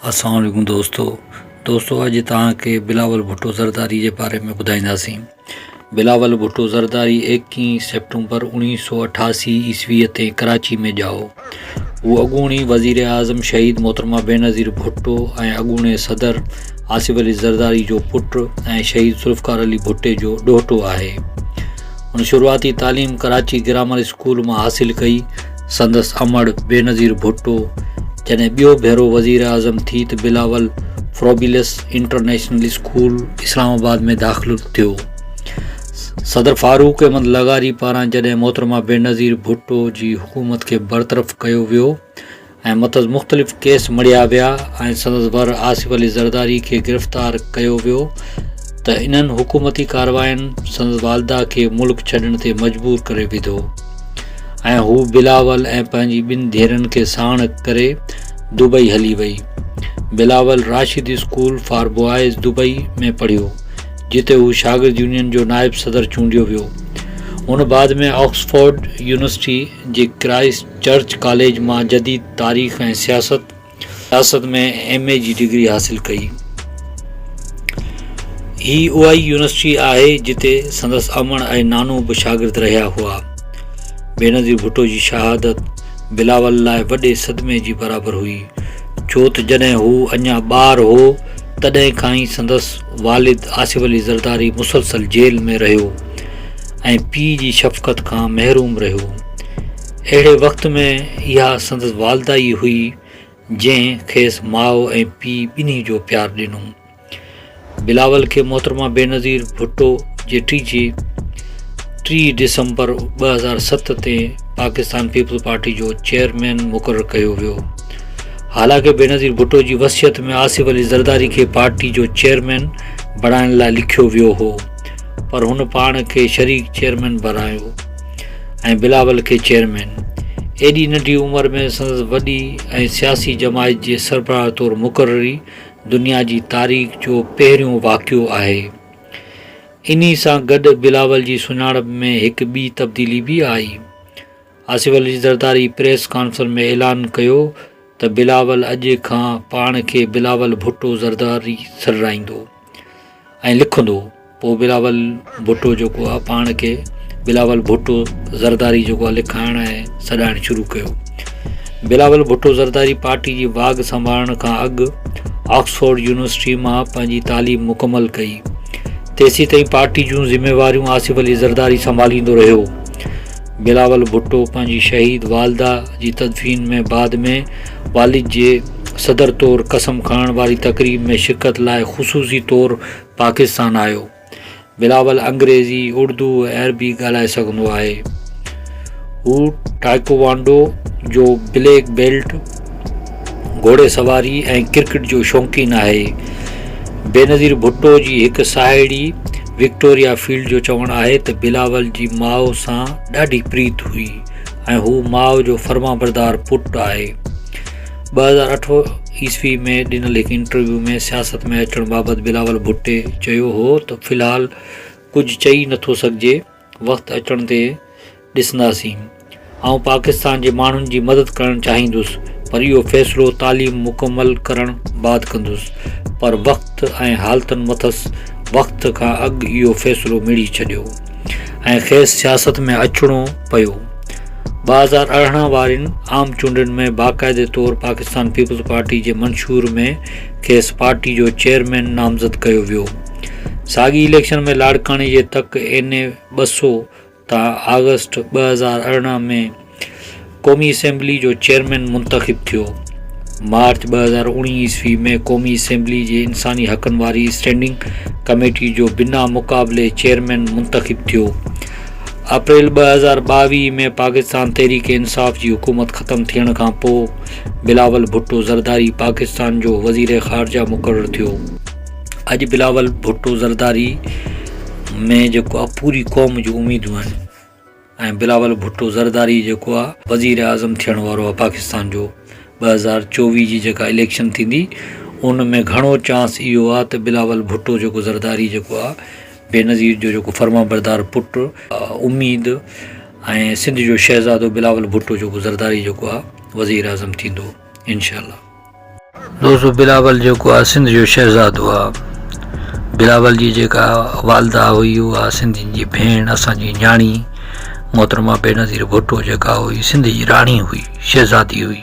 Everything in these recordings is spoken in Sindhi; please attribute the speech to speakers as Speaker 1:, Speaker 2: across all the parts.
Speaker 1: السلام عليڪم دوستو دوستو اڄ توهان کي بلاول ڀٽو زرداري جي باري ۾ ٻڌائينداسين بلاول ڀٽو زرداري ايڪيهن سيپٽمبر اڻيهه سو اٺاسي عيسوي تي ڪراچي ۾ ڄائو هو اڳوڻي وزير اعظم شهيد محترمه بينظير ڀٽو ۽ اڳوڻي صدر آصف علي زرداري جو پٽ ۽ شهيد ذوالفقار علي ڀٽي جو ڏوهٽو آهي هن شروعاتي تعليم ڪراچي گرامر اسڪول مان حاصل ڪئي. سندس امڙ بينظير ڀٽو جڏهن ٻيو ڀيرو وزيراعظم ٿي ته Bilawal Froebel's international school Islamabad ۾ داخل ٿيو. صدر فاروق احمد لغاري پاران جڏهن محترمه بينظير ڀٽو جي حڪومت کي برطرف ڪيو ويو ۽ مٿس مختلف ڪيس مڙهيا ويا ۽ سندس ڀر آصف علي زرداري کي گرفتار ڪيو ويو ته انهن حڪومتي ڪاررواين سندس والده کي ملڪ ڇڏڻ تي مجبور ڪري وڌو ۽ هو بلاول ۽ پنهنجي ٻن ڌيئرن کي ساڻ ڪري دبئي هلي وئي Bilawal Rashid school for boys Dubai ۾ پڙهيو جتي هو شاگرد يونين جو نائب صدر چونڊيو ويو هن بعد ۾ آڪسفورڊ يونيورسٽي جي ڪرائسٽ چرچ ڪاليج مان جديد تاريخ ۽ سياست، سياست ۾ ايم اي جي ڊگري حاصل ڪئي. هي اها ئي يونيورسٽي آهي جتي سندس امڙ ۽ نانو به شاگرد رهيا هئا. بينظير ڀٽو جي شهادت بلاول لاء وڏي صدمي جي برابر هئي، ڇو ته جڏهن هو اڃا ٻار هو تڏهن کان ئي سندس والد آصف علي زرداري مسلسل جيل ۾ رهيو ۽ پيء جي شفقت کان محروم رهيو. اهڙي وقت ۾ اها سندس والده ئي هئي، جنهن کيس ماء ۽ پيء ٻنهي جو پيار ڏنو. بلاول کي محترمه بينظير ڀٽو جيٺي جي ٽي ڊسمبر ٻه هزار ست تي پاڪستان پيپلز پارٽي جو چيئرمين مقرر ڪيو ويو. حالانڪ بينظير ڀٽو جي وصيت ۾ آصف علي زرداري کي پارٽي جو چيئرمين بڻائڻ لاء لکيو ويو هو، پر هن پاڻ کي شريڪ چيئرمين بڻايو. ۽ بلاول کي چيئرمين. ايڏي ننڍي عمر ۾ سندس وڏي ۽ سياسي جماعت جي سربراهه طور مقرري دنيا جي تاريخ جو پهريون واقعو آهي. انهي سان گڏ بلاول جي سڃاڻپ ۾ هڪ ٻي تبديلي به آئي. آصف علي زرداري پريس ڪانفرنس ۾ اعلان ڪيو ته بلاول اڄ کان پاڻ کي بلاول ڀٽو زرداري سڏرائيندو ۽ لکندو پوء بلاول ڀٽو جيڪو آهي پاڻ کي بلاول ڀٽو زرداري جيڪو آهي لکائڻ ۽ سڏائڻ شروع ڪيو بلاول ڀٽو زرداري پارٽي جي واڳ سنڀالڻ کان اڳ آڪسفورڊ يونيورسٽي مان پنهنجي تعليم مڪمل ڪئي تيسي تائين پارٽي جون ذميواريون آصف علي زرداري سنڀاليندو رهيو بلاول ڀٽو پنهنجي شهيد والده جي تدفين ۾ بعد ۾ والد جي صدر طور قسم کڻڻ واري تقريب ۾ شرڪت لاء خصوصي طور پاڪستان آيو. بلاول انگريزي، اردو ۽ عربي ڳالهائي سگهندو آهي. هو ٽائيڪوانڊو جو بليڪ بيلٽ، گهوڙي سواري ۽ ڪرڪيٽ جو شوقين آهي. بينظير ڀٽو جي هڪ ساهيڙي وڪٽوريا فيلڊ جو چوڻ آهي ته بلاول جي ماء سان ڏاڍي پريت هئي ۽ هو ماء جو فرمانبردار پٽ آهي. ٻه هزار اٺ عيسوي ۾ ڏنل هڪ انٽرويو ۾ سياست ۾ اچڻ بابت بلاول ڀٽي چيو هو ته في الحال ڪجهه چئي نٿو سگهجي، وقت اچڻ تي ڏسنداسين. آئون پاڪستان جي ماڻهن جي مدد ڪرڻ چاهيندس پر اهو فيصلو تعليم مڪمل ڪرڻ بعد ڪندس پر وقت ۽ حالتن مٿس وقت کان اڳ اهو فيصلو مڙهي ڇڏيو ۽ کيس سياست ۾ اچڻو پيو. ٻه هزار ارڙهن وارين عام چونڊن ۾ باقاعدي طور پاڪستان پيپلز پارٽي جي منشور ۾ کيس پارٽي جو چيئرمين نامزد ڪيو ويو. ساڳئي اليڪشن ۾ لاڙڪاڻي جي تڪ اين اي ٻه سؤ تان آگسٽ ٻه هزار ارڙهن ۾ قومي اسيمبلي جو چيئرمين منتخب ٿيو. مارچ ٻه هزار اوڻيهه عيسوي ۾ قومي اسيمبلي جي انساني حقن واري اسٽينڊنگ ڪميٽي جو بنا مقابلي چيئرمين منتخب ٿيو. اپريل ٻه هزار ٻاويهه ۾ پاڪستان تحريڪ انصاف جي حڪومت ختم ٿيڻ کان پوء بلاول ڀٽو زرداري پاڪستان جو وزير خارجه مقرر ٿيو. اڄ بلاول ڀٽو زرداري ۾ جيڪو آ پوري قوم جون اميدون آهن ۽ بلاول ڀٽو زرداري جيڪو آ وزير اعظم ٿيڻ وارو آ پاڪستان جو ٻه هزار چوويهه جي جيڪا اليڪشن ٿيندي ان ۾ گهڻو چانس اهو آ ته بلاول ڀٽو جيڪو زرداري جيڪو آ بينظير جو جيڪو فرمان بردار پٽ اميد ۽ سنڌ جو شهزادو بلاول ڀٽو جيڪو زرداري جيڪو آ وزير اعظم ٿيندو انشاء الله دوستو بلاول جيڪو آ سنڌ جو شهزادو آ بلاول جي جيڪا والده هئي اها سنڌين جي ڀيڻ اسان جي نياڻي محترمه بينظير ڀٽو جيڪا هئي سنڌ جي راڻي هئي شهزادي هئي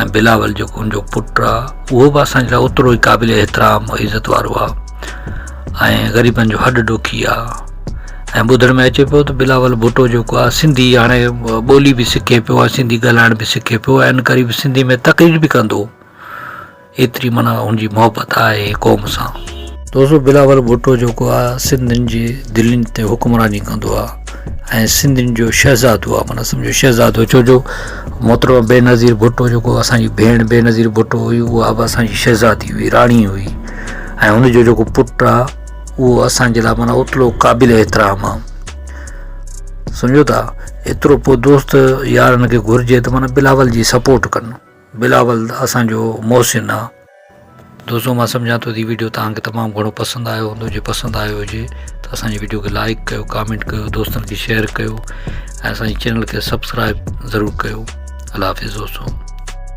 Speaker 1: ۽ بلاول جيڪو ان جو پٽ آ اهو به اسان جي لاء اوترو ئي قابل احترام عزت وارو آ ۽ غريبن جو هڏ ڏوکي آ ۽ ٻڌڻ ۾ اچي پيو ته بلاول ڀٽو جيڪو آ سنڌي هاڻي ٻولي به سکي پيو آ سنڌي ڳالهائڻ به سکي پيو آ ان ڪري به سنڌي ۾ تقرير به ڪندو ايتري معنيٰ ان جي محبت آهي قوم سان دوستو بلاول ڀٽو جيڪو آ سنڌين جي دلين تي حڪمراني ڪندو آ ۽ سنڌين جو شهزادو آ معنيٰ سمجهو شهزادو ڇو جو محترم بينظير ڀٽو جيڪو اسان جي ڀيڻ بينظير ڀٽو هئي اها به اسان جي شهزادي هئي راڻي هئي ۽ هن جو جيڪو پٽ آ اهو اسان جي لاء معنيٰ اوترو قابل احترام آ سمجهو ٿا ايترو پوء دوست يارن کي گهرجي ته معنيٰ بلاول جي سپورٽ ڪن بلاول اسان جو محسن آ دوستو مان سمجهان ٿو هي ويڊيو توهان کي تمام گهڻو پسند آيو هوندو جي پسند آيو هجي ته اسان جي ويڊيو کي لائڪ ڪيو ڪامينٽ ڪيو دوستن کي شيئر ڪيو ۽ اسان جي چينل کي سبسڪرائب ضرور ڪيو الله حافظ دوستو